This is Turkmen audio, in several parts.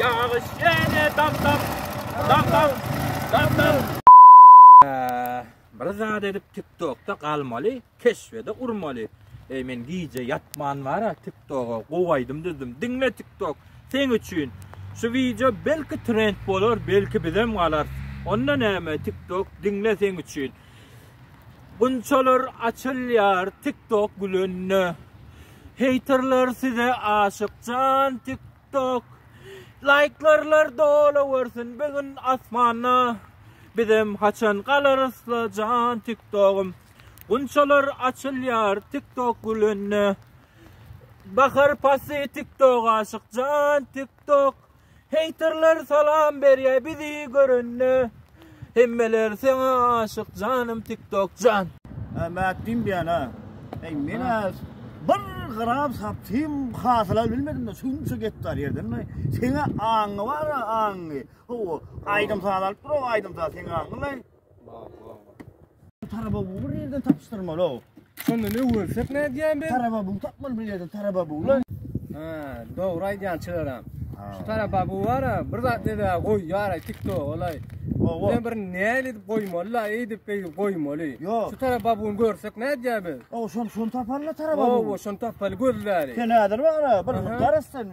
Ýagyş ýene damdam, damdam, damdam. Bir zat edip tiktokda galmaly keşbede urmaly eý men gije ýatman bara tiktoga gowy aýdym düzdüm diňle tiktok seň üçin şu wideo belki trend bolar belki bizem galar onda näme tiktok diňle seň üçin gunçalar açylýar tiktok gülende heyterler size aşyk jan tiktok Tok Laýklarlar dolawersin bir gün asmanda Bizem haçan galarysla jan tiktogym Gunçalar açylýar tiktok gülünde Bahar pasy tiktok aşyk jan tiktok Heýterler salam berýär bizi görende Hemmeler saňa aşyk janym tik tok jan. Mät diýim diýýän ha. Eý menä bir gram sapym hasyla bilmedim de şunça gektar ýerden mi? Seňe aňňy bar aňňy. Ho aýdym saz alyp dur aýdym saz seňe aňňy. Taraba bu bir yerden tapıştırmalı o. Şonda ne görsek ne diyen ben? Taraba bu tapmalı bir yerden taraba bu lan. Ha, doğru aydan çıkaram. Şu taraba bu var ha, bir zat ne de koy yara tikto olay. Owo. Ne bir ne edip koymalı la, edip edip koymalı. Yok. Şu taraba bunu görsek ne diyen ben? O şun şun tapanla taraba bu. Owo, şun tapalı gözleri. Sen hazır var ha, bir Aha. karasın.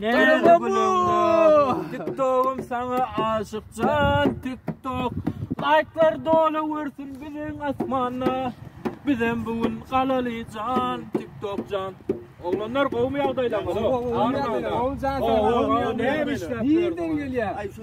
Nerede bu? TikTok'um sana aşık can TikTok. Like'lar dolu vursun bizim asmana. Bizem bugün kalaly can TikTok can. Oglanlar gowmy ýagdaýlaryňyz? Gowy, gowy, gowy. Gowy, gowy. Näme işläp? Nirden gelýär? Ay şu